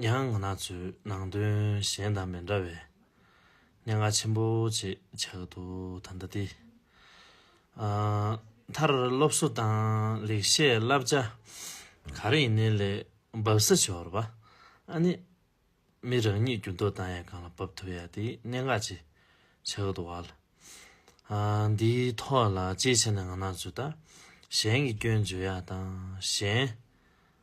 མྱ་ངན་ཚོའི་ནང་དོན་གཞན་དང་མི་འདྲ་བའི་སྙན་ངག་ཆེན་པོ་ཅེས་བྱ་གི་འདུག་ད་ལྟ་དེ་མཐར་སློབ་གསོ་དང་ལེགས་བཤད་བསླབ་བྱ་ག་རེ་ཡིན་ནའི་ལས་བབས་ས་ཆོར་བ་ཨ་ནི་མི་རང་ཉིད་རྒྱུ་འདོད་དང་ཡང་གང་ལ་བབས་ཐུབ་ཡ་དེ་སྙན་ངག་ཅེས་བྱ་གི་འདུག་བ་ལ་འདིའི་ཐོག་ལ་ཅིའི་ཕྱིར་ན་ང་ནག་ཚོས་ད་གཞན་གྱི་སྐྱོན་བརྗོད་ཡ་དང་གཞན།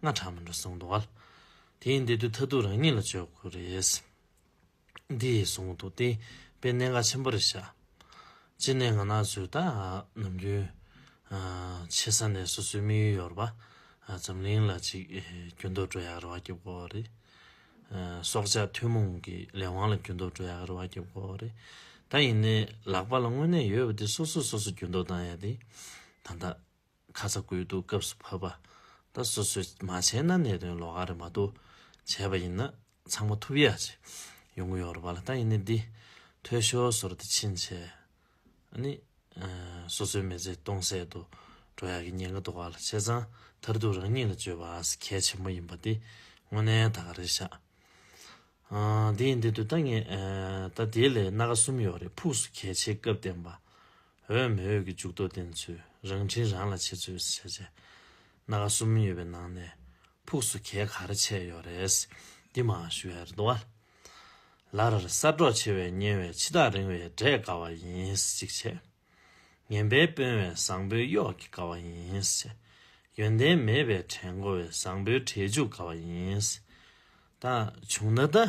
སྔ་དྲགས་མི་འགྲོ་གསུངས་འདུག་ག་དེའི་འདི་དུས་ཐ་དུས་རང་ཉིད་ལ་བཅོས་དགོས་རེད། འདི་ཡིས་གསུངས་འདུག་དེ་པའི་གནད་འགག་ཆེན་པོ་རེད་ཤག། གཅིག་ནས་ང་ན་ཟོས་ད་ནམ་རྒྱུན་ཆེ་ས་ནས་སོ་སོའི་དམིགས་ཡུལ་ཡོད་རེད་པ་འཛམ་གླིང་ལ་ཅིག་རྒྱུ་འདོགས་སྤྲོད་ཡག་རེད་བ་ཀྱི་དགོས་རེད། སྲོག་ཆགས་ཐུན་མོང་གི་ལས་དབང་ལ་རྒྱུ་འདོགས་སྤྲོད་ཡག་རེད་བ་ཀྱི་དགོས་རེད། ད་ཡིན་ནའི་ལག་པ་ལ་དངོས་གནས་ཡོད་པ་དེ་སོ་སོས་སོ་སོ་རྒྱུ་འདོགས་གཏང་ཡ་དེ་ད་ད། ཁ་ཚ་དགོས་གཏུགས་སྐབས་སུ་ཕབ་པ་དང་སོ་སོས་མ་བྱས་ན་གནད་དོན་ལོགས་ཀ་རེད་མ་གཏོགས་བྱས་པ་ཡིན་ན་ཚང་མ་ཐུབ་ཡ་ཅིག་ཡོང་གི་ཡོད་རེད་པ་ལ་ད་ཡིན་ནའི་འདི་ཐོས་ཞོ་ཟོར་དེ་ཕྱིན་ཆད་ནི་སོ་སོའི་མི་ཚེ་སྟོང་ཟད་དུ་འགྲོ་ཡག་གི་ཉེན་ཁ་འདུག་བ་ལ་བྱས་ཙང་མཐར་ཐུག་རང་ཉིད་ལ་བཅོས་པ་ཨ་ཟི་གལ་ཆེན་པོ་ཡིན་པ་དེ་དངོས་གནས་ད་ག་རེ་བཞག་དེ་ཡིན་དེ་དུས་ད་ངས་ད་དེའི་ལས་སྣ་ག་གསུམ་ཡོད་རེད་ཕུགས་སུ་གལ་ཆེ་སྐབས་བསྟན་པ། འོས་མི་འོས་ཀྱི་འཇུག་ལྡོག་བདེན་འཚོལ་རང་འཁྲིའི་རང་ལ་ཆེད་འཚོལ་བྱས་རྗེས། སྣ་ཁ་གསུམ་ཡོད་པའི་ནང་ནས་ཕུགས་སུ་གས་ག་རེ་ཆད་ཡོད་རེད། འདི་མ་ཞུ་བའི་རེད་དོ། ལར་གསར་སྒྲོག་ཆེ་བས་ཉེ་བའི་ཕྱི་ཐག་རིང་བས་འབྲས་དགའ་བ་ཡིན་གཅིག་བྱས། ངན་པའི་དཔོན་བས་བཟང་པོའི་གཡོག་གི་དགའ་བ་ཡིན་བྱས། ཡོན་ཏན་མེད་པའི་གྲལ་མགོ་བས་བཟང་པོའི་གྲལ་འཇུག་དགའ་བ་ཡིན། ད་བྱུང་ན་ད།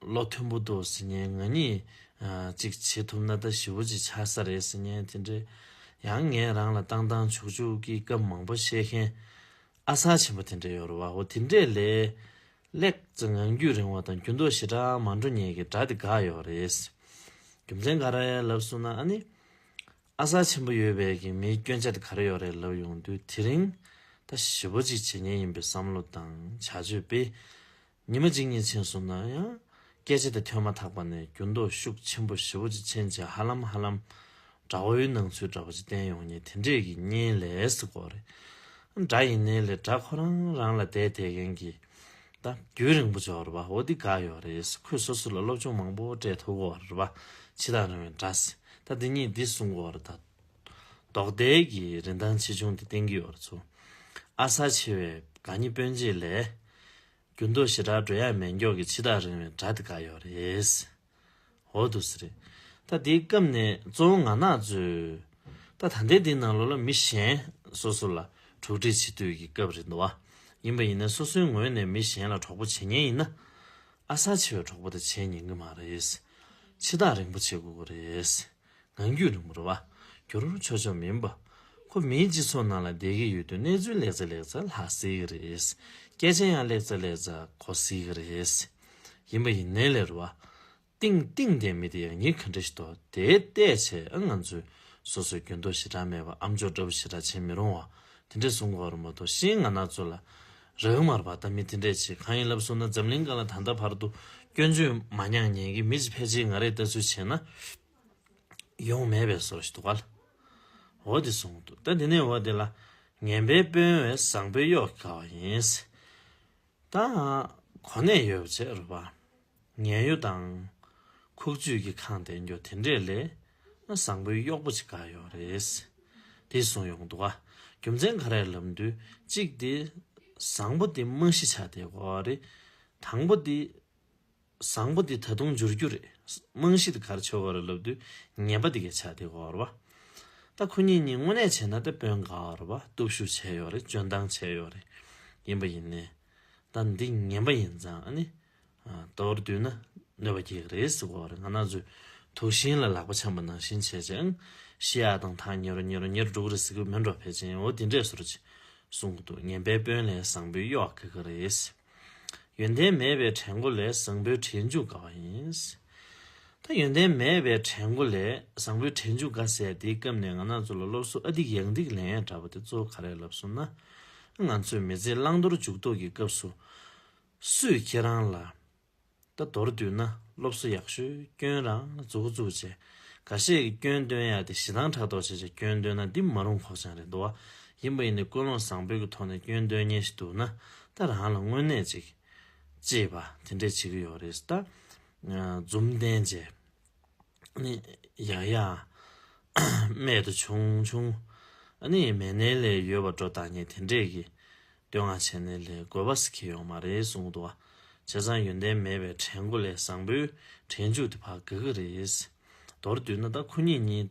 བློ་མཐུན་པོ་འདུག་ཟེར་ཉེན་ང་གཉིས་གཅིག་བྱེད་ཐུབ་ན་ད་ཞི་བོ་གཅིག་ཆགས་ས་རེད་ཟེར་ཉེན་དེ་འདྲའི། ཡང་ངས་རང་ལ་བཏང་བཏང་བྱུག་བྱུག་གི་སྐབས་མང་པོ་བཤད་མཁན་ཨ་གསར་ཆེན་པོ་དེ་འདྲས་ཡོད་རེད་བ་ཧོ་དེ་འདྲས་ལས། ལེགས་བཙས་ངང་རྒྱུད་རིང་བ་དང་རྒྱུ་མདོག་ཞེ་དྲག་མ་འགྲོ་ཉེས་ཀྱི་སྒྲ་དེ་འགག་ཡོད་རེད། རྒྱུ་མཚན་ག་རེད་ལབ་གསུངས་ན་ཨ་ནི། ཨ་གསར་ཆེན་པོ་ཡོད་བས་ཀྱི་མིའི་སྐྱོན་ཆ་དེ་ག་རེ་ཡོད་རེད་ལབ་ཡོང་དུས་དེ་རིང་ད་ཞི་བོ་གཅིག་བྱེད་ཉེན་ཡིན་པའི་བསམ་བློ་དང་བྱ་སྤྱོད་སྤེལ། ཉི་མ་གཅིག་གཉིས་ཕྱིན་སོང་ན་ཡང། སྐད་ཆ་དེ་ཐོས་མ་ཐག་པ་ནས་འགྱུར་ལྡོག་ཤུགས་ཆེན་པོ་ཞི་བོ་ཅིག་ཕྱིན་རྗེས་ཧ་ལམ་ཧ་ལམ། དགྲ་བོའི་སྣང་ཚུལ་འདྲ་པོ་ཅིག་བསྟན་ཡོང་ངེས་དེ་འདྲས་ཀྱི་གཉིད་ལས་སུ་གོ་རེད། དགྲ་ཡིན་ནའི་ལས་དགྲ་ཁོ་རང་རང་ལ་དད་དད་མཁན་གྱི། ད་རྒྱུན་རིང་པོ་འཇོག་རེད་པ་འོ་འདི་འགའ་ཡོད་རེད་ཁོས་སོ་སོ་ལ་སློབ་སྦྱོང་མང་པོ་སྤྲད་ཐུབ་གོ་རེད་པ་ཕྱི་དང་རིང་བའི་འདྲ། ད་འདི་གཉིས་འདི་གསུངས་གོ་རེད་ད། རྡོག་སྡེ་གི་རིན་ཐང་ཆེ་ཆུང་དེ་གཏན་གྱི་ཡོ་ར་ཚོ་ཨ་གསར་ཆེ་བའི་ག་ཉི་སྤོན་གཅིག་ལས། རྒྱུ་མདོ་ཞེ་དྲག་འགྲོ་ཡ་མེད་མགྱོགས་ཀྱི་ཕྱི་ཐག་རིང་བའི་དགྲ་དེ་ག་ཡོ་རེད། འོ་དུ་སི་རེད་ད་དེའི་སྐབས་ནས་གཙོ་བོ་ང་ནག་ཚོས་ད་ད་ལྟའི་དེའི་ནང་ལོ་ལ་མི་གཞན་སོ་སོ་ལ་དྲུག་འདྲི་བྱེད་དུས་ཀྱི་སྐབས་རེད་འདུག་བ་ཡིན་པ་ཡིན་ན་སོ་སོའི་ངོས་ནས་མི་གཞན་ལ་གྲོགས་པོ་བྱེད་ཉེན་ཡིན་ན་ཨ་གསར་ཆེ་བའི་གྲོགས་པོ་དེ་བྱེད་ཉེན་གྱི་མ་རེད། ཕྱི་ཐག་རིང་པོ་བྱེད་དགོས་ཀྱི་རེད། ངང་རྒྱུད་རིང་པོར་བར་གྱུར་ཆོག་ཆོག་མིན་པ། ཁོ་མིའི་སྤྱི་ཚོགས་ནང་ལ་བསྡད་ཀྱི་ཡོད་དུས་གནས་ཚུལ་ལེགས་ཚེ་ལེགས་ཚེ་ལྷག་སྲིད་ཀྱི་རེད། སྐད་ཆ་ཡང་ལེགས་ཚེ་ལེགས་ཚེ་གོ་སྲིད་ཀྱི་རེད། ཡིན་པ་ཡིན་ནའི་ལེར་བ། ཏིང་ཏིང་འདས་མི་དེ་ཡང་ཉིན་ག་འདྲ་ཞིག་འདོག་དེའི་ལྟས་བྱས་ཨ་ང་ཚོས་སོ་སོའི་རྒྱུན་ཐོ་ཞེ་དྲག་མེད་པར་ཨམ་ཅོག་འདྲ་བོ་ཞེ་དྲག་བྱེད་མི་རུང་བ་དེ་འདྲས་བཟུང་དགོས་པ་རེད་མ་གཏོགས་ཤེས་ང་ནག་ཚོ་ལ་རག་མར་བ་ད་མི་དེ་འདྲས་བྱེད་གང་ཡིན་ལབ་སོང་ན་འཛམ་གླིང་ག་ལ་ད་ལྟ་བར་དུ་སྐྱོན་བརྗོད་མ་མྱངས་ཉན་གི་མི་ཅི་ཕལ་ཆེར་ང་རེད་ལྟ་ཚུལ་བྱས་ན་ཡོང་མེད་པའི་སོར་ཞིག་འདུག་ག་ལ་འོ་དེ་སོང་འདུག་ད་དེ་ནས་འོ་དེ་ལ་ངན་པའི་དཔོན་བས་བཟང་པོའི་གཡོག་གི་ཀ་བ་ཡིན། ད་གོ་གནས་ཡོད་བྱས་རོགས་པ། ངན་གཡོ་དང། ཁུག་རྩུད་ཀྱི་ཁང་དེ་འགྱོ་དེ་འདྲས་ལས། ང་བཟང་པོའི་གཡོག་པོ་ཅིག་ག་ཡོག་རེད། དེ་སོང་ཡོང་འདུག་ཨ། རྒྱུ་མཚན་ག་རེ་ལབ་འདུག་གཅིག་དེ། བཟང་པོ་དེ་རྨང་གཞི་ཆགས་དེ་གོ་རེད། དང་པོ་དེ། བཟང་པོ་དེ་ད་དུང་འགྱུར་རྒྱུ་རེད། རྨང་གཞི་དེ་གར་ཆོ་ག་རེ་ལབ་འདུག་ངན་པ་དེ་གས་ཆགས་དེ་གོ་རེད་བ། ད་ཁོ་གཉིས་གཉིས་དངོས་གནས་བྱས་ན་དེད་དཔོན་ག་རེད་བ་སྟོབས་ཤུགས་བྱས་ཡོག་རེད་བཅོན་སྟངས་བྱས་ཡོག་རེད། ཡིན་པ་ཡིན་ནས། ད་འདི་ངན་པ་ཡིན་ཙང་ཨ་ནི། དང་བོར་བསྡུས་ན་གནོད་པ་བརྒྱད་རེ་གཟིགས་པ་བར་ང་ན་ཟོས། དུག་ཤིང་ལ་ལག་པ་འཆང་བ་ནང་བཞིན་བྱེད་ཅིང། ཤི་ཡ་དང་ཐག་ཉེ་རུ་ཉེ་རུ་ཉེར་དྲུག་རེ་གཟིགས་པས་མི་འགྲོ་ཕལ་ཆེན་འོ་དེ་འདྲས་སོར་ཅིག། གསུང་གི་དུག་ངན་པའི་དཔོན་ལས་བཟང་པོའི་གཡོག་དགེ་ག་རེ་ཡིན། ཡོན་ཏན་མེད་པའི་གྲལ་མགོ་ལས་བཟང་པོའི་གྲལ་མཇུག་ག་བ་ཡིན། ད་ཡོན་ཏན་མེད་པའི་གྲལ་མགོ་ལས་བཟང་པོའི་གྲལ་མཇུག་ག་ཟེར་དེའི་སྐབས་ནས་ང་ན་ཟོས་ལ་སློབ་གསོ་ཨ་སྡིག་ཡང་སྡིག་ལན་ཡང་འདྲ་བ་དེ་གཙོ་བོ་ག་རེ་ལབ་སོང་ན། ང་ཚོས་མི་ཚེའི་བླང་དོར་འཇུག་ལྡོག་གི་སྐབས་སུ། སུས་ཁྱེད་རང་ལ་ད་དོར་བསྡུས་ན་སློབ་གསོ་ཡག་ཤོས་སྐྱོན་རང་རྫོགས་རྫོགས་བྱས་ག་ཤེད་ཀྱི་སྐྱོན་སྟོན་ཡག་དེ་ཞེ་སྡང་ཕྲག་དོག་བྱས་བྱས་སྐྱོན་སྟོན་ན་འདི་མ་རུང་ཁོག་བཅངས་རེད་འདུག་བ་ཡིན་པ་ཡིན་ནའི་ཀུན་སློང་བཟང་པོའི་གི་ཐོག་ནས་སྐྱོན་སྟོན་ཉེན་ཞིག་འདུག་ན་ད་རང་ལ་དངོས་གནས་ཅིག་ཅེས་པ་དེ་འདྲས་བྱེད་ཀྱི་ཡོད་རེད་ད་འཛུམ་ལྡན་རྗེ། ཡང་ཡང་རྨད་དུ་བྱུང་བྱུང། མེད་ནའི་ལས་ཡོད་པར་འགྲོ་བདག་ཉིད་དེ་འདྲས་ཀྱིས། བསྟོད་བསྔགས་བྱས་ནས་ལས་དགོས་པ་ཞིག་ཡོང་མ་རེད་གསུངས་འདུག་བྱས་ཙང་ཡོན་ཏན་མེད་པའི་དྲན་སྒོ་ལས་བཟང་པོའི་དྲན་འཇུག་དེ་བག་གི་གི་རེད། མདོར་བསྡུས་ན་ད་ཁོ་གཉིས་གཉིས་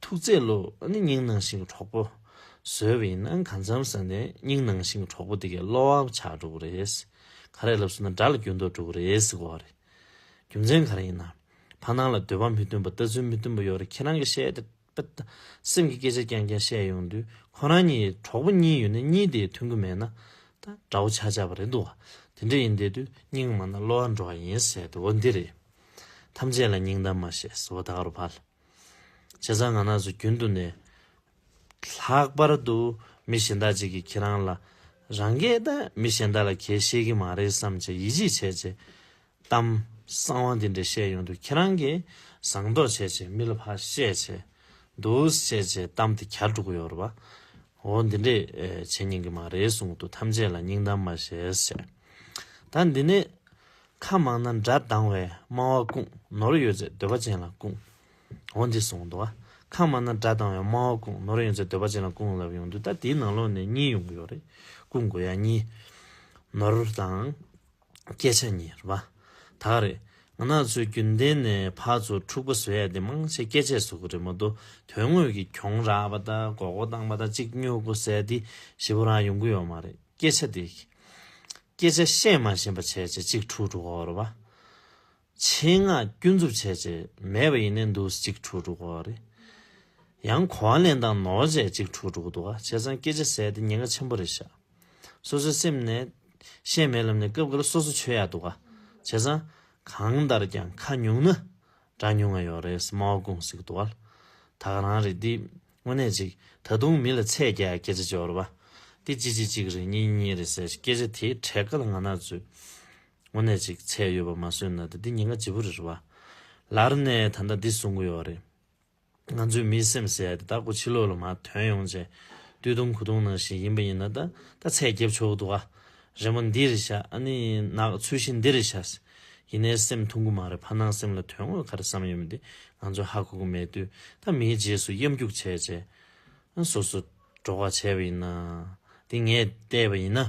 ཐུགས་བརྩེ་ལོ། ནི་སྙིང་ནང་ཞིང་གྲོགས་པོ། ཟོལ་བས་ན་གང་འཚམ་ཟེར་ནས་སྙིང་ནང་ཞིང་གྲོགས་པོ་དེ་གའི་བློ་བབ་ཆགས་འགྲོ་གི་རེད། ག་རེ་ལབ་ཟེར་ན་དགྲ་ལ་རྒྱུ་འདོགས་འགྲོ་གི་རེད་ཟེར་གོ་རེད། རྒྱུ་མཚན་ག་རེ་ཡིན་ནམ། ཕ་ནང་ལ་འདོད་པ་མི་བསྟུན་པ་ལྟ་ཚུལ་མི་བསྟུན་པ་ཡོད་རེད་ཁྱེད་རང་གི་བཤད་དེ་དཔེ་ལྟ། སེམས་ཀྱི་སྐད་ཆ་རྐྱང་རྐྱང་བཤད་ཡོང་དུས་ཁོ་རང་གཉིས་གྲོགས་པོ་གཉིས་ཡོད་ནས་གཉིས་དེས་མཐུན་གི་མེད་ན། ད་དགྲ་བོ་ཆགས་ཆགས་པ་རེད་འདུག་དེ་འདྲ་ཡིན་བསྡད་དུས་སྙིང་མ་ན་བློ་བ་འགྲོ་བ་ཡིན་ཟེར་དུ་བོ་འདི་རེད། ཐམས་ཅད་ལ་སྙིང་གཏམ་མ་བཤད་ཟེར་བོ་ད་ག་རུ་བལ། བྱས་ཙང་ང་ནགས་སུ་རྒྱུན་དུ་ནས། ལྷག་པར་དུ་མི་གཞན་དག་ཅིག་གིས་ཁྱེད་རང་ལ། རང་གས་ད་མི་གཞན་དག་ལ་གས་ཤེས་ཀྱི་མ་རེད་བསམ་བྱས་ཡིད་ཆེས་བྱས་རྗེས། གཏམ་གསང་བ་འདི་འདྲ་བཤད་ཡོང་དུས་ཁྱེད་རང་གིས་བཟང་མདོག་བྱས་རྗེས་མི་ལ་ཕར་བཤད་བྱས་འདུག་བཤད་རྗེས་གཏམ་དེ་གར་འགྲོ་གི་ཡོད་རེད་བ། འོ་འདི་འདྲས་བྱེད་ཉན་གི་མ་རེད་གསུངས་འདུག་ཐམས་ཅད་ལ་སྙིང་གཏམ་མ་བཤད་བྱས། ད་འདི་ནས། ཁ་མང་ན་འདྲ་སྡང་བས་སྨྲ་བ་ཀུན། ནོར་ཡོད་ཚེ་འདོད་པ་ཅན་ལ་ཀུན། འོ་འདི་གསུངས་འདུག་ཨ། ཁ་མང་ན་འདྲ་སྡང་བས་སྨྲ་བ་ཀུན། ནོར་ཡོད་ཚེ་འདོད་པ་ཅན་ལ་ཀུན་ལབ་ཡོང་དུས་ད་དེའི་ནང་ལོགས་ནས་གཉིས་ཡོང་གི་ཡོད་རེད། ཀུན་དགོས་ཡ་གཉིས། ནོར་དང། སྐད་ཆ་གཉིས་རེད་པ། ད་ག་རེད། ང་ནག་ཚོའི་རྒྱུན་ལྡན་ནས་ཕར་ཚུར་འཁྲུག་པ་བཟོས་ཡ་དེ་མང་ཆེ་སྐད་ཆས་བཟོ་གི་རེད་མ་གཏོགས་དོན་དངོས་ཀྱི་གྱོང་རག་པ་དང་མགོ་སྐོར་བཏང་པ་དང་གཅིག་སྨྱོ་སྒོ་ཟས་འདི་ཞེ་པོ་རང་ཡོང་གི་ཡོད་མ་རེད་སྐད་ཆ་དེ། བསྐྱེད་བྱ་ཤེས་མ་ཞེན་པ་བྱས་བྱས་གཅིག་དྲུག་དྲུག་འོག་རོ་བ། ཆེན་སྔགས་ཀུན་རྫོབ་བྱས་བྱས་མེད་པ་ཡེ་ནས་འདུག་གཅིག་དྲུག་དྲུག་འོག་རེ། ཡང་གོ་བ་ལེན་དང་ནོར་བྱས་གཅིག་དྲུག་དྲུག་འདུག་བྱས་ཚང་བསྐྱེད་བྱ་ཟད་དེ་ཉེན་ཁ་ཆེན་པོ་རེ་བཞག། སོ་སོའི་སེམས་ནས། ཤེས་མེད་ལམ་ནས་སྐབས་འགར་སོ་སོ་ཆོས་ཡག་འདུག་བྱས་ཚང། གང་ལྟར་ཀྱང་ཁ་ཉུང་ན། དྲ་ཉུང་ང་ཡོག་རེད་སྨྲ་བ་ཀུང་སིག་དུ་བལ་ཐག་རང་རེད་འདི་དངོས་གནས་ཅིག་ད་དུང་མི་ལ་ཚད་རྒྱ་སྐད་ཆ་འཇོར་བ་འདི་གཅིག་གཅིག་གཅིག་རེད་གཉིས་གཉིས་རེད་ཟེར་སྐད་ཆ་དེ་འཕྲད་ག་ལ་ང་ནག་ཚོས་དངོས་གནས་ཅིག་ཚད་ཡོད་པ་མ་བཟོས་ན་ད་འདི་ཉིན་ག་ཇི་བོ་རེད་རེད་བ། ལར་ནས་ད་ལྟ་འདི་གསུང་གི་ཡོག་རེད། ང་ཚོའི་མིའི་སེམས་ཟེར་ཡ་དེ་བདག་པོ་ཕྱི་ལོག་ལ་མ་དོན་ཡོང་བྱེད། བཏུལ་བཏུམ་ཁུ་བཏུང་ནང་བཞིན་ཡིན་པ་ཡིན་ན་ད་ད་ཚད་རྒྱབ་ཆོག་འདུག་ཨ། རེ་མོ་འདི་རེ་བྱ་ཨ་ནི་ནག་ཚུལ་བཞིན་འདི་རེ་བྱ། ཡིན་ནའི་སེམས་ཐུང་གུ་མ་རེད་ཕ་སྣང་སེམས་ལ་དོན་དངོས་ག་རེ་བསམ་ཡོད་མེད་དེ་ང་ཚོས་ཧ་གོ་གི་མེད་དུས་ད་མིའི་རྗེས་སུ་གཡམ་རྒྱུག་བྱས་བྱས། སོ་སོ། འགྲོགས་པ་བྱས་པ་ཡིན་ན། དེ་ངས་བལྟས་པ་ཡིན་ན།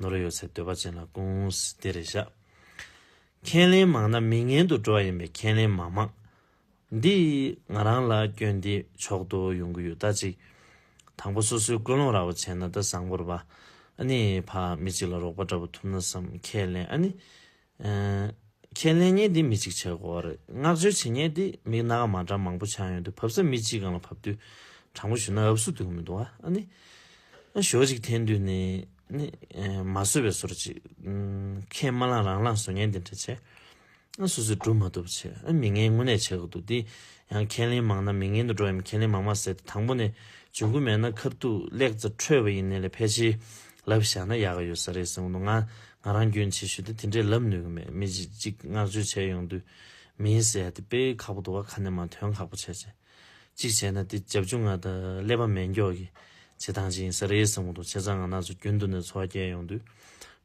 ནོར་ཡོད་ཚེ་འདོད་པ་ཅན་ལ་ཀུན་བདེ་རེ་བཞག། ཁས་ལེན་མང་ན་མི་ངན་དུ་འགྲོ་བ་ཡིན་པས་ཁས་ལེན་མ་མང། འདི་ང་རང་ལ་སྐྱོན་འདི་མཆོག་ཏུ་ཡོང་གི་ཡོད་ད་ཅིག། དང་པོ་སོ་སོའི་ཀུན་སློང་ར་བ་བྱས་ན་ད་བཟང་པོར་བ་ཨ་ནི་ཕ་མི་གཅིག་ལ་རོགས་པ་འདྲ་པོ་ཐུབ་ན་བསམ་ཁས་ལེན་ཨ་ནི། ཁས་ལེན་ཉན་དེ་མི་གཅིག་ཆགས་དགོས་བ་རེད་བསྔགས་བརྗོད་བྱེད་ཉན་དེ་མིག་སྣ་ཁ་མ་འདྲ་མང་པོ་ཆགས་ཡོང་དུས་བབས་ས་མི་གཅིག་གང་ལ་བབས་དུས་དྲང་པོ་ཞུ་ན་ཨབ་སུ་དུས་གོ་མི་འདུག་ཨ་ནི། ཞོ་གཅིག་འཐེན་དུས་ནི། ནི། མ་བཟོད་པའི་ཟོར་གཅིག། ཁས་མ་བླངས་རང་བླངས་ཟོ་ཉན་དེ་འདྲ་བྱས། ཨ་སོ་སོས་སྒྲུབ་མ་ཐུབ་བྱས་ཨ་མི་ངན་དངོས་གནས་བྱས་གི་འདུག་དེ་ཡང་ཁས་ལེན་མང་ན་མི་ངན་དུ་འགྲོ་ཡམ་ཁས་ལེན་མང་མ་ཟེར་དེ་དང་པོ་ནས་འབྱུང་གི་མེད་ན་ཁབ་ཐུག་གླེགས་ཚ་འཁྲོལ་བ་ཡིན་ནས་ལས་ཕལ་ཆེའི་ལབ་བྱས་ན་ཡག་གི་ཡོད་ས་རེད་གསུངས་གི་འདུག་ང་ང་རང་རྒྱུན་ཆེ་ཤོས་དེ་དེ་འདྲས་ལབ་ནུས་གི་མེད་མི་གཅིག་གཅིག་བསྔགས་བརྗོད་བྱས་ཡོང་དུས་མིན་ཟེར་ཡ་དེ་དཔེ་ཁག་པོ་འདུག་བ་ཁ་ནས་མ་ཐོན་ཁག་པོ་བྱས་བྱས་གཅིག་བྱས་ན་དེ་རྒྱབ་ཆུང་ང་དང་ཀླད་པ་མེད་མགྱོགས་གི་བྱེད་སྟངས་གཅིག་ཡིན་ས་རེད་གསུངས་གི་འདུག་བྱས་ཙང་ང་ནགས་ཚོ་རྒྱུན་དུ་ནས་འཚོ་བ་བསྐྱལ་ཡོང་དུས་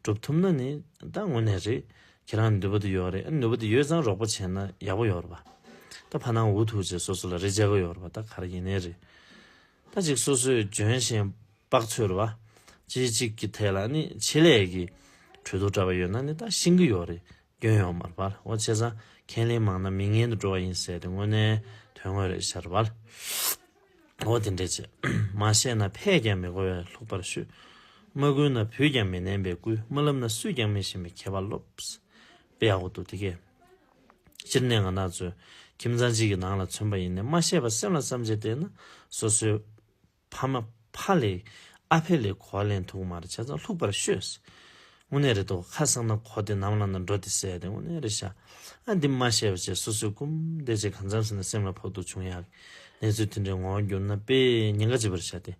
སྒྲུབ་ཐུབ་ན་ནི་ད་དངོས་གནས་རེད་ཁྱེད་རང་ནུས་པ་དེ་ཡོད་རེད་ཨ་ནི་ནུས་པ་དེ་ཡོད་ཙང་རོགས་པ་བྱས་ན་ཡག་པོ་ཡོད་རེད་བ་ད་ཕ་ནང་འུ་ཐུག་རྗེས་སོ་སོ་ལ་རེ་བྱ་གི་ཡོད་རེད་བ་ད་ག་རེ་ཡིན་ནའི་རེད། ད་ཅིག་སོ་སོའི་ལྗོན་བཞིན་དཔག་ཚོལ་བ། ཅི་གཅིག་གི་ཐད་ལ་ནི་ཆེད་ལས་ཀྱི་གྲོས་ཐོ་འདྲ་བ་ཡོད་ན་ནི་ད་ཤིང་གི་ཡོག་རེད་སྐྱོན་ཡོག་མར་བར་འོ་བྱས་ཙང་ཁས་ལེན་མང་ན་མི་ངན་དུ་འགྲོ་བ་ཡིན་ཟེར་ཏེ་དངོས་གནས་དོན་དངོས་རེད་ཤར་བར་འོ་དེ་འདྲས་བྱས་མ་བཤད་ན་ཕས་ཀྱང་མི་གོ་བས་ལྷུག་པར་ཤོད། མ་བསྐུལ་ན་བུས་ཀྱང་མི་ནན་པས་བསྐུལ་མ་ལབ་ན་སུས་ཀྱང་མི་ཤེས་པའི་ཁྱད་པར་ལོབས། དཔེ་ཡག་པོ་འདུག་དེ་གས། སྤྱིར་གནས་ལྔ་ནག་ཚོས་ཁྱིམ་ཚང་གཅིག་གི་ནང་ལ་མཚོན་པ་ཡིན་ནས་མ་ཤེས་པར་སེམས་ལ་བསམ་བྱས་བལྟས་ན་སོ་སོའི་ཕ་མ་ཕ་ལས་ཨ་ཕས་ལས་གོ་ལེན་ཐུག་མ་རེད་བྱས་ཙང་ལྷུག་པར་ཤོད་སྲིད་དངོས་གནས་རེད་དོ་ཁ་གསང་ན་གོ་དེ་ནམ་ལངས་ན་འགྲོ་དེ་ཟེར་དེ་དངོས་གནས་རེད་ཤག་ཨ་འདི་མ་ཤེས་པ་བྱས་སོ་སོའི་སྐུམ་བལྟས་བྱས་གང་འཚམས་ཟིན་ན་སེམས་ལ་ཕོག་ཐུག་བྱུང་ཡག་གི་གནས་ཚུལ་དེ་འདྲའི་ངོ་བོ་འགྱུར་ན་དཔེ་ཉེན་ཁ་ཅི་བར་བྱ་སྟེ་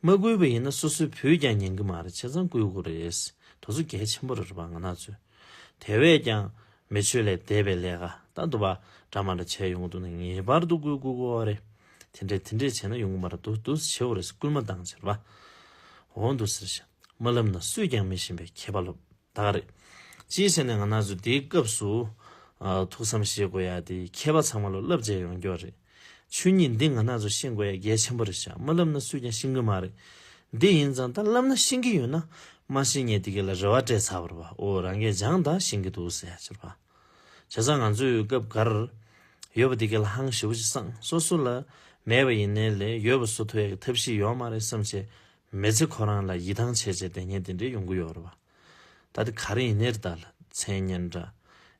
མ་བསྐུལ་བ་ཡིན་ན་སོ་སོའི་བུས་ཀྱང་ཉན་གི་མ་རེད་བྱས་ཙང་བསྐུལ་དགོས་རེད། དོ་སོ་གལ་ཆེན་པོ་རེད་པ་ང་ན་ཚོས། དེ་བས་ཀྱང་མི་ཆོས་ལས་འདས་པའི་ལས་ཀ་ད་འདུག་པ་འདྲ་མ་འདྲ་བྱས་ཡོང་གི་འདུག་ན་ངེས་པར་དུ་བསྐུལ་དགོས་དགོས་བ་རེད། དེ་འདྲས་དེ་འདྲས་བྱས་ན་ཡོང་གི་མ་རེད་འདུག་འདུག་བྱེད་བོ་རེད་བསྐུལ་མ་བཏང་ཟེར་བ། འོ་འདུག་ཟེར་བཞིན་མ་ལབ་ན་སུས་ཀྱང་མི་ཤེས་པའི་མཁས་པ་ལོབས། དག་རེད། ཅིའི་ཕྱིར་ན་ང་ན་ཟུག་དེའི་སྐབས་སུ། ཐུགས་བསམ་བཞེས་དགོས་ཡ་དེ་མཁས་པ་ཚང་མ་ལ་བསླབ་བྱས་ཡོང་རྒྱུ་རེད། ཆོས་ཉིད་འདི་ང་ན་ཟུག་ཤེས་དགོས་ཡ་གལ་ཆེན་པོ་རེད་ཤག་མ་བསླབ་ན་སུས་ཀྱང་ཤེས་གི་མ་རེད། འདི་ཡིན་ཙང་ད་བསླབ་ན་ཤེས་གི་ཡོད་ན། མ་ཤེས་ངས་དེ་ག་ལ་རེ་བ་སྤྲད་ཚར་བར་བ་འོ་རང་གས་སྦྱངས་དང་ཤེས་གི་འདུག་ཟེར་ཡ་ཅེར་བ། བྱས་ཙང་ང་ཚོས་སྐབས་འགར། ཡོད་པ་དེ་ག་ལ་ཧང་ཞི་བོ་ཅིག་བསམ་སོ་སོ་ལ། མེད་པ་ཡིན་ནའི་ལས་ཡོད་པ་བཟོ་ཐུབ་ཡ་གི་ཐབས་ཤེས་ཡོད་མ་རེད་བསམ་བྱས་མེ་ཚེ་ཁོ་རང་ལ་ཡིད་ཐང་ཆད་ཆད་དེ་སྙན་དེ་འདྲས་ཡོང་གི་ཡོད་རེད་བ། ད་དེ་ག་རེ་ཡིན་ནེར་ད་ལ་མཚན་སྙན་འདྲ།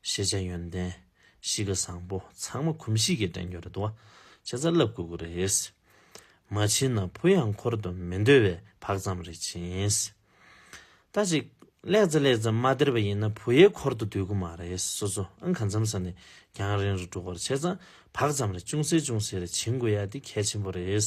ཤེས་བྱ་ཡོན་ཏན། གཤིས་ཀ་བཟང་པོ་ཚང་མ་གོམས་གཤིས་ཀྱི་དྲན་རྒྱུ་རེད་བ། ཁྱེད་ཚ་ལབ་དགོས་ཀྱི་རེད། མ་བྱིན་ན་བུ་ཡང་འཁོར་དུ་མི་འདོད་བས་བག་ཙམ་རེ་བྱིན། ད་ཅིག་ལེགས་ཙེ་ལེགས་ཙེ་མ་སྟེར་བ་ཡིན་ན་བུ་ཡའི་འཁོར་དུ་སྡོད་ཀྱི་མ་རེད་སོ་སོ་ཨང་ག་འཚམ་ས་ནས་རྒྱང་རིང་རུ་འགྲོ་སྐོར་བྱས་ཙང་བག་ཙམ་རེ་ཅུང་ཟད་ཅུང་ཟད་རེ་བྱིན་དགོས་ཡ་དེ་གལ་ཆེན་པོ་རེད།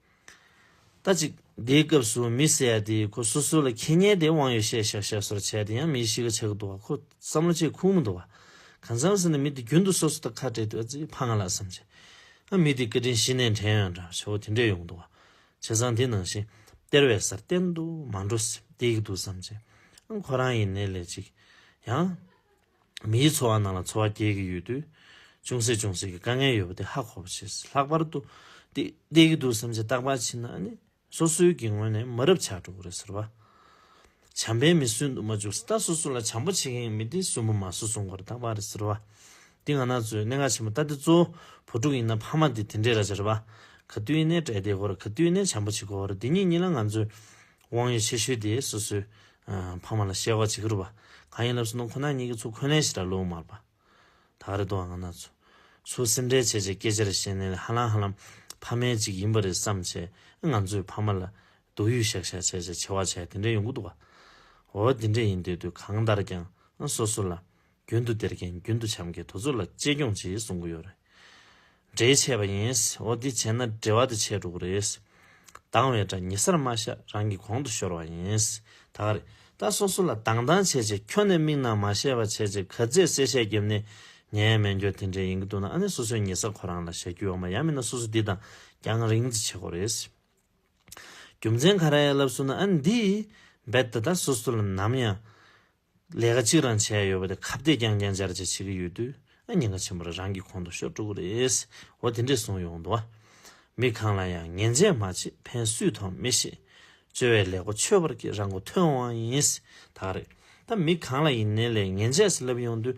ལྟ་ཅི། འདིའི་སྐབས་སུ་མི་གསལ་ཏེ་ཁོ་སོ་སོ་ལ་ཁེ་ཉེན་དེ་དབང་ཡོད་ཤས་ཤག་ཤག་སོར་ཆད་དེ་ཡང་མི་ཞིག་གི་ཆ་གི་འདུག་བ་ཁོ་བསམ་བློ་ཆེས་ཁུག་མི་འདུག་བ། གང་བསམ་ཟེར་ན་མི་དེ་རྒྱུན་དུ་སོ་སོ་དང་ཁ་བྲལ་དུས་ཨ་ཙི་ཕ་ང་ལ་བསམ་བྱེད། ཨ་མི་དེ་སྐད་འཕྲིན་གཞི་ནས་དྲན་ཡོད་འདྲ་བྱ་བོ་དེ་འདྲས་ཡོང་གི་འདུག་བ། བྱས་ཙང་དེ་ནང་བཞིན་སྟེར་བའི་སར་གཏན་དུ་མ་འགྲོ་སྲིད་དེ་གི་འདུག་བསམ་བྱེད། ཨང་ཁོ་རང་ཡིན་ནའི་ལས་ཅིག་ཡང། མིའི་འཚོ་བ་ནང་ལ་འཚོ་བ་སྐྱེལ་གྱི་ཡོད་དུས། ཅུང་ཟད་ཅུང་ཟད་ཀྱི་དཀའ་ངལ་ཡོད་པ་དེ་ཧ་གོ་བར་བྱེད་སྲིད། ལྷག་པར་དུ། འདི་བལྟས་ཀྱི་འདུག་བསམ་གྱི་རྟག་པར་ཕྱིན་ན་ནི། སོ་སོའི་གི་ངོས་ནས་མི་རབས་ཆགས་འགྲོ་གི་རེད་ཟེར་བ། བྱམས་པའི་མི་སུན་དུ་མ་འཇུག་སྲིད་ད་སོ་སོ་ལ་བྱམས་པོ་བྱེད་མཁན་གྱི་མི་དེ་སུན་པོ་མ་སུ་སོང་གི་རེད་རྟག་པར་རེད་ཟེར་བ། འདི་ང་ན་ཚོའི་གནད་འགག་ཆེན་པོ་ལྟ་སྟེ་གཙོ་བོ་བུ་ཕྲུག་ཡིན་ན་ཕ་མ་དེ་དེ་འདྲའི་ར་ཅར་བ། ག་དུས་ནས་གྲལ་བསྡད་གོ་ར་ག་དུས་ནས་བྱམས་པོ་བྱེད་གོ་ར་དེ་གཉིས་གཉིས་ལ་ང་ཚོས་དབང་ཡོད་ཆེ་ཤོས་དེ་སོ་སོའི། ཕ་མ་ལ་བཤད་བ་བྱེད་ཀྱི་རུ་བ། གང་ཡིན་ལབ་སོ་ནང་ཁོ་ན་གཉིས་ཀྱི་ཚུ་འཁོན་ལན་ཞིག་ར་ལོ་མར་པ། ད་རེ་དོ་ཨང་ན་ཚུ། ཚུ་སེམས་ཁྲལ་བྱེད་བྱེད་སྐད་ཆ་རེ་བཤད་ནས་ལས་ཧ་ལམ་ཧ་ལམ། ཕ་མའི་གཅིག་ཡིན་པ་རེད་བསམ་བྱས་ཨེ་ང་ཚོས་ཕ་མ་ལ། སྡུག་ཡུས་བཤག་བཤག་བྱས་བྱས་བྱེད་བ་བྱས་དེ་འདྲས་ཡོང་གི་འདུག་བ། འོ་དེ་འདྲས་ཡིན་དེ་དུས་གང་ལྟར་ཀྱང། སོ་སོ་ལ། རྒྱུན་དུ་སྟེར་མཁན་རྒྱུན་དུ་བྱམས་ཀྱི་དུ་ཚོད་ལ་གཅེས་སྐྱོང་བྱེད་གསུང་གི་ཡོད་རེད། འབྲེལ་ཆད་པ་ཡིན། འོ་འདི་བྱས་ན་འབྲེལ་བ་དེ་ཆད་འགྲོ་གི་རེད། སྡང་བའི་དགྲ་ཉེ་སར་མ་བཞག་རང་གི་གོང་དུ་ཤོར་བ་ཡིན། ད་ག་རེད། ད་སོ་སོ་ལ་སྡང་སྡང་བྱས་བྱས་ཁྱོ་ནས་མིག་ནང་མ་ཤེས་པ་བྱས་བྱས་ག་ཚད་གསལ་བཤད་བརྒྱབ་ནས་ཉན་མན་རྒྱོ་དེ་འདྲས་ཡིན་གི་འདུག་ན་ཨ་ནེ་སོ་སོའི་ཉེ་ས་ཁོ་རང་ལ་བྱ་རྒྱུ་ཡོག་མ་ཡ་མིན་ན་སོ་སོ་འདི་དང་རྒྱང་རིང་ཙི་བྱེད་གོ་རེད། རྒྱུ་མཚན་ག་ར་ཡ་ལབ་སུ་ན་ཨ་ནེ་འདིས་རྦད་དེ་ད་སོ་སོ་ལ་ནམ་ཡང་ལས་ཀ་གཅིག་རང་བྱས་ཡོད་པ་དེ་ཁ་བརྡས་ཀྱང་ཀྱང་འབྱར་འབྱར་བྱེད་ཀྱི་ཡོད་དུས་ཨ་ཉེ་འགའ་ཆེན་པོ་རེ་རང་གི་གོང་དུ་ཤོར་འགྲོ་གི་རེད། འོ་དེ་འདྲས་བཟུང་ཡོང་འདུག་ཨ། མི་གང་ལ་ཡང་ངན་བྱས་མ་བྱས་ཕན་སུས་ཐོག་མི་ཤེས། བཅོལ་བའི་ལས་སྒོ་ཆོས་པར་གྱིས་རང་མགོ་ཐོན་འོང་བ་ཡིན། ད་རེད། ད་མི་གང་ལ་ཡིན་ནའི་ལས་ངན་བྱས་ཟེར་ལབ་ཡོང་དུས།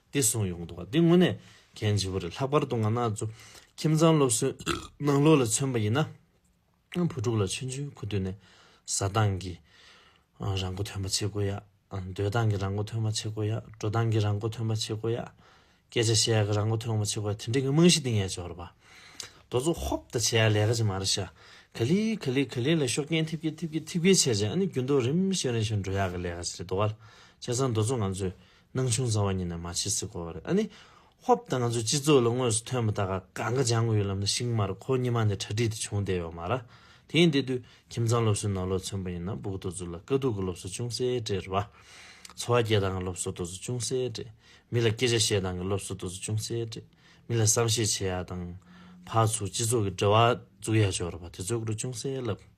འདི་གསུངས་ཡོང་འདུག་འདི་དངོས་གནས་གལ་ཆེ་པོ་རེད་ལྷག་པར་དུ་ང་ནག་ཚོ་ཁྱིམ་ཚང་སློབ་གསོའི་ནང་ལོགས་ལ་མཚོན་པ་ཡིན་ན་བུ་ཕྲུག་ལ་ཆུང་ཆུང་གི་དུས་ནས་བཟའ་སྟངས་ཀྱི་རང་མགོ་ཐོན་པ་བྱེད་དགོས་ཡ་སྡོད་སྟངས་ཀྱི་རང་མགོ་ཐོན་པ་བྱེད་དགོས་ཡ་འགྲོ་སྟངས་ཀྱི་རང་མགོ་ཐོན་པ་བྱེད་དགོས་ཡ་སྐད་ཆ་བཤད་ཡ་གི་རང་མགོ་ཐོན་པ་བྱེད་དགོས་ཡ་དེ་འདྲའི་གི་རྨང་གཞི་འདིང་ཡ་འབྱོར་བ་རྡོ་བཙུགས་ཧོབ་ད་བྱེད་ཡ་ལས་ཀ་ཅིག་མ་རེད་ཤག་ག་ལི་ག་ལི་ག་ལི་ལ་ཤོག་རྐྱེན་ཐེབས་ཀྱི་ཐེབས་ཀྱི་ཐེབས་ཀྱི་བྱས་བྱས་ཨ་ནི་རྒྱུན་ཏུ་རིམ་བཞིན་རིམ་བཞིན་འགྲོ་ཡ་གི་ལས་ཀ་ཅིག་རེད་རྡོ་བ་ལ་བྱས་ཙང་རྡོ་བཙུགས་ང་ཚོས། སྣང་ཆུང་བཟང་བ་ཉིད་ནས་མ་བྱས་སྲིད་གོ། ཨ་ནི། ཧོབ་ད་ང་ཚོའི་སྤྱི་ཚོགས་ལ་དངོས་སུ་ཐོན་མི་ད་ག་ག་འགའ་སྦྱང་གི་ཡོད་ལབ་ན་ཤིང་མར་ཁོ་གཉིས་མ་ནས་གྲ་སྒྲིག་དེ་བྱུང་བསྡད་ཡོག་མ་ར། དེ་ཡིན་དེ་དུས་ཁྱིམ་ཚང་སློབ་གསོའི་ནོར་ལོག་མཚོན་པ་ཡིན་ན་སྦུག་ཏོ་ཛུ་ལ་དཀའ་སྡུག་གི་སློབ་གསོ་ཅུང་ཟད་སྤྲད་ར། འཚོ་བ་སྐྱེལ་སྟངས་ཀྱི་སློབ་གསོ་ཏོ་ཛུ་ཅུང་ཟད་སྤྲད། མི་ལ་སྐད་ཆ་བཤད་སྟངས་ཀྱི་སློབ་གསོ་ཏོ་ཛུ་ཅུང་ཟད་སྤྲད། མི་ལ་བསམ་ཤེས་བྱེད་ཡག་དང། ཕར་ཚུར་སྤྱི་ཚོགས་ཀྱི་འབྲེལ་བ་འཛུགས་ཡག་ཆོག་ར་བ་དེ་ཚོའི་སྐོར་ཅུང་ཟད་ལབ།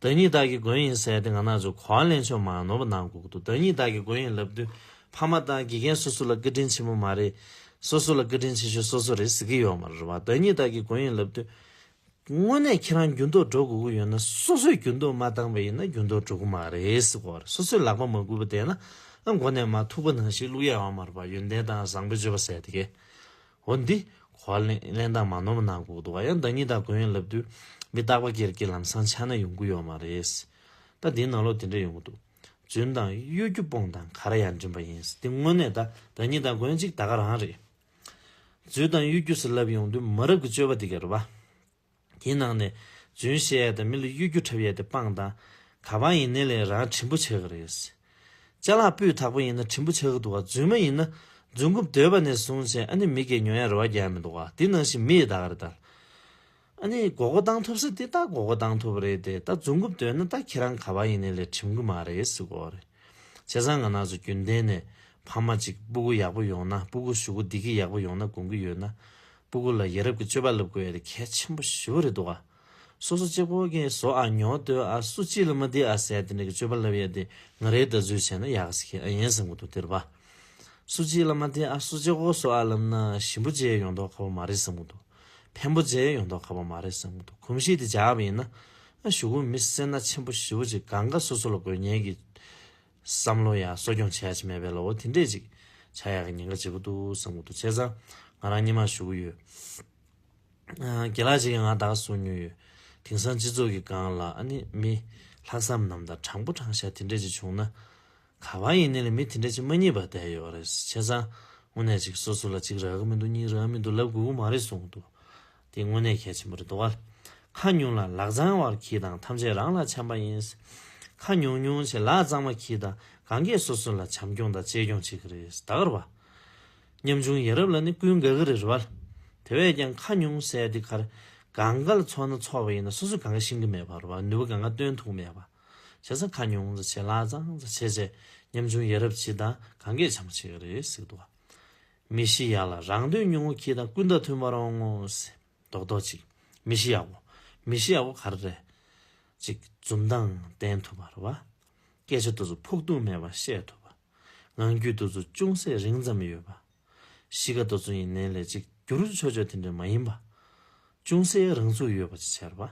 བདག་ཉིད་བདག་གི་མགོན་ཡིན་ཟེར་ཏེ་ང་ན་ཚོད་གོ་བ་ལེན་ཆོག་མ་ནོར་བ་ནང་འགོག་འདུག་བདག་ཉིད་བདག་གི་མགོན་ཡིན་ལབ་དུས་ཕ་མ་དང་དགེ་རྒན་སོ་སོ་ལ་བཀའ་དྲིན་ཆེན་པོ་མ་རེད། སོ་སོ་ལ་བཀའ་དྲིན་ཆེ་ཤོས་སོ་སོ་རེད་ཟེར་གི་ཡོད་མ་རེད་བ་བདག་ཉིད་བདག་གི་མགོན་ཡིན་ལབ་དུས། དངོས་གནས་ཁྱེད་རང་རྒྱུན་ལྡོག་འགྲོ་དགོས་ཀྱི་ཡོད་ན་སོ་སོས་རྒྱུན་ལྡོག་མ་བཏང་པ་ཡིན་ན་རྒྱུན་ལྡོག་འགྲོ་གི་མ་རེད་ཟེར་གོ་རེད་སོ་སོས་ལག་པ་མ་འགུལ་བ་བསྡད་ན་མགོ་ནས་མ་ཐུག་པ་ནང་ཞིག་བླུག་ཡ་ཡོང་མ་རེད་བ་ཡོན་ཏན་དང་བཟང་པོའི་སྤྱོད་པ་ཟེར་ཏེ། འོན་ཏེ། གོ་བ་གླེང་སྟངས་མ་ནོར་བ་གནང་དགོས་འདུག་བ་ཡང་བདག་ཉིད་དང་གོ་ཡོན་ལབ་དུས་མི་རྟག་པ་ཀེར་ཀེར་ལམ་སང་ཆགས་ན་ཡོང་གི་ཡོད་མ་རེད། ད་དེའི་ནང་ལོག་དེ་འདྲ་ཡོང་གི་འདུག་རྫུན་དང་གཡོ་སྒྱུ་སྤོང་དང་ག་ར་ཡ་འགྲིམ་པ་ཡིན་དེ་དངོས་གནས་ད་བདག་ཉིད་དང་གོ་ཡོན་གཅིག་ད་ག་རང་རེད། རྫུན་དང་གཡོ་སྒྱུ་སེ་ལབ་ཡོང་དུས་མི་རབས་ཀྱི་སྤྱོད་པ་དེ་ག་རེད་བ། དེའི་ནང་ནས་རྫུན་བཤད་ཡས་དང་མི་ལ་གཡོ་སྒྱུ་འཁྲབ་ཡས་དེ་སྤང་དང། ག་པང་ཡིན་ནའི་ལས་རང་བྲིན་པོ་བྱས་གི་རེད། བཅའ་ལག་སྤུས་དག་པོ་ཡིན་ན་བྲིན་པོ་བྱ་གི་འདུག་ག་རྫུན་མ་ཡིན་ན་རྫུན་རྐུབ་སྡོད་པ་ནས་བཟུང་བྱས་ཨ་ནི་མི་གས་ཉོ་ཡས་རེ་བ་རྒྱག་ཡས་མི་འདུག་ག་དེ་ནང་བཞིན་མི་ཡི་ད་ག་རེད་ད། ཨ་ནི་དགོ་དགོ་བཏང་ཐུབ་ས་དེ་ད་དགོ་དགོ་བཏང་ཐུབ་རེད་དེ་ད་རྫུན་རྐུབ་སྡོད་ན་ད་ཁྱེད་རང་ག་པང་ཡིན་ནའི་ལས་བྲིམ་གི་མ་རེད་སུ་གོ་རེད། བྱས་ཙང་ང་ནག་ཚོ་རྒྱུན་ལྡན་ནས་ཕ་མ་ཅིག་སྤུ་གུ་ཡག་པོ་ཡོང་ན་སྤུ་གུ་ཞུ་གུ་བསྡིག་གི་ཡག་པོ་ཡོང་ན་དགོངས་གི་ཡོད་ན། སྤུ་གུ་ལ་ཡ་རབས་ཀྱི་སྤྱོད་པ་སློབ་དགོས་ཡོད་དེ་གལ་ཆེན་པོ་ཞེ་བོ་རེད་འདུག་ཨ། སོ་སོ་གཅིག་པོ་གིས་བཟོ་ཨ་ཉོ་ལྟོས་ཨ་སུ་གཅིག་ལ་མི་བདེ་ཨ་ཟས་དེ་འདྲ་གི་སྤྱོད་པ་སློབ་ཡོད་དེ་ང་རེའི་ལྟ་ཚུལ་བྱས་ན་ཡག་ཤེས་ཨ་ཡིན་བསམ་གི་འདུག་དེར་བ་སུ་གཅིག་ལ་མ་བདེ་ཨ་སུ་གཅིག་པོ་བཟོ་ཨ་ལབ་ན་ཞིམ་པོ་བརྗེད་ཡོང་དོགས་ཁ་བོ་མ་རེད་བསམ་གི་འདུག་ཕན་པོ་བརྗེད་ཡོང་དོགས་ཁ་བོ་མ་རེད་བསམ་གི་འདུག་གོམས་གཤིས་དེ་འཇགས་པ་ཡིན་ན་ཨ་ཞུ་གུ་མི་སེར་སྣ་ཆེན་པོ་ཞེ་བོ་གཅིག་གང་དགའ་སོ་སོ་ལ་དགོས་ངེས་ཀྱི་བསམ་བློ་ཡང་གསོ་སྐྱོང་བྱས་ཀྱི་མེད་པས་ལོ་བོ་དེ་འདྲས་ཅིག་བྱ་ཡག་གི་ཉེན་ཁ་ཇེ་པོ་འདུག་བསམ་གོ་ཐུག་བྱས་ཙང་ང་རང་གཉིད་མ་ཞུ་གི་ཡོད། གྱི་ལག་ཅིག་གིས་ང་དག་གསོ་མྱོང་ཡོད། དེང་སང་སྤྱི་ཚོགས་ཀྱི་སྒང་ལ་ཨ་ནི་མི། ལྷག་བསམ་ནམ་དང་དྲང་པོ་དྲང་བཞག་དེ་འདྲས་ཅིག་བྱུང་ན། ག་བ་ཡིན་ནི་ལ་མི་དེ་འདྲས་ཅིག་མ་རྙེད་པ་བསྡད་ཡོད་བ་རེད་བྱས་ཙང་དངོས་གནས་ཅིག་སོ་སོ་ལ་གཅིག་རག་གི་མི་འདུག་གཉིས་རག་མི་འདུག་ལབ་དགོས་གི་མ་རེད་གསུང་གི་འདུག་དེ་དངོས་གནས་གལ་ཆེན་པོ་རེད་འདུག་ཁ་ཉུང་ལ་ལག་བརྫང་བར་གྱིས་དང་ཐམས་ཅད་རང་ལ་འཆམ་པ་ཡིན། ཁ་ཉུང་ཉུང་ཆེ་ལག་བརྫང་བ་གྱིས་དང་གང་གས་སོ་སོ་ལ་བྱམས་སྐྱོང་དང་གཅེས་སྐྱོང་བྱེད་ཀྱི་རེད་ད་གར་བ། ཉམ་ཆུང་ཡ་རབས་ལ་ནི་ཀུན་དགའ་གི་རེད་བ། དེ་བས་ཀྱང་ཁ་ཉུང་སའི་འདི་གར་གང་ག་ལ་འཚོ་ན་འཚོ་བ་ཡིན་ན་སོ་སོས་གང་ག་ཤེས་ཀྱི་མེད་པར་བ་ནུས་པ་གང་ག་བཏོན་ཐུག་མེད་བ། བྱས་ཙང་ཁ་ཉུང་ཆེ་ལག་བརྫང་བྱས་བྱས་ཉམ་ཆུང་ཡ་རབས་གྱིས་དང་གང་གས་བྱམས་པ་བྱེད་ཀྱི་རེད་ཟེར་གྱི་འདུག་མི་ཤི་ཡག་ལ་རང་དོན་ཉུང་ངུ་ཁྱི་དང་ཀུན་ད་ཐུན་པར་འོང་ངོ། རྡོག་རྡོག་ཅིག། མི་ཤི་ཡག་པོ། མི་ཤི་ཡག་པོ་ག་རེ་རེད། ཅིག་འཛུམ་མདངས་བསྟན་ཐུབ་པར་བ། སྐད་ཆ་དུ་ཚོད་ཕུགས་རྡུང་མེད་པར་བཤད་ཐུབ་པ། ངང་རྒྱུད་དུ་ཚོད་ཅུང་ཟད་རིང་ཙམ་ཡོད་པ། གཤིས་ཀ་དུ་ཚོད་ཡིན་ནའི་ལས་གཅིག་གྱུར་ཆོས་ཆོས་དེ་འདྲ་མ་ཡིན་པ། ཅུང་ཟད་རང་ཚུགས་ཡོད་པ་ཅིག་བྱེད་པ།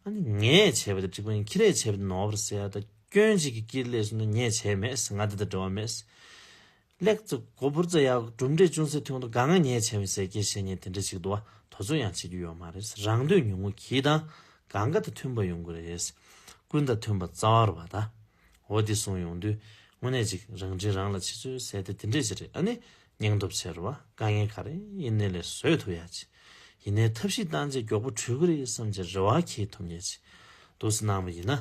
ཨ་ནི་ངས་བྱས་པ་དེ་འགྲིག་པ་ཡིན་ཁྱི་རས་བྱས་པ་དེ་ནོར་བར་ཟད་ད་སྐྱོན་གཅིག་གིས་ཀྱིས་ལས་བྱུང་ན་ངས་བྱས་མེད། ང་འདི་ལྟར་འབྲེལ་བ་མེད། སླེགས་ཙི་གོ་བུར་ཙི་ཡག་གྲུབ་འབྲས་ཅུང་ཟད་ཐོན་འདུག་དགའ་ང་ཉེ་ཆེ་བའི་ཟས་སྐྱེལ་བྱེད་ཉེ་དེ་འདྲ་ཞིག་འདུག་བ་དོ་ཚོད་ཡང་བྱེད་རྒྱུ་ཡོད་མ་རེད་རང་འདོད་ཉུང་ངུ་གྱིས་དང་ག་འགའ་དང་མཐུན་པ་ཡོང་གི་རེད་ཀུན་དང་མཐུན་པ་རྩ་བར་བ་དང་འོ་དེ་སོང་ཡོང་དུས་དངོས་གནས་ཅིག་རང་དྲིན་རང་ལ་ཆེ་ཚོའི་ཟས་དེ་དེ་འདྲས་ཅིག་རེད་ཨ་ནི་སྙིང་སྟོབས་ཆེ་རུ་བ་དཀའ་ངལ་ག་རེ་ཡིན་ནི་ལས་བཟོས་ཐུབ་ཡག་ཅིག་ཡིན་ནའི་ཐབས་ཤིག་བཏང་རྗེས་མགྱོགས་པོ་བྲུས་གི་རེད་བསམ་གྱི་རེ་བ་ཁྱེད་ཐུབ་ངེས་ཅིག་འདུག་སྣང་བ་ཡིན་ན།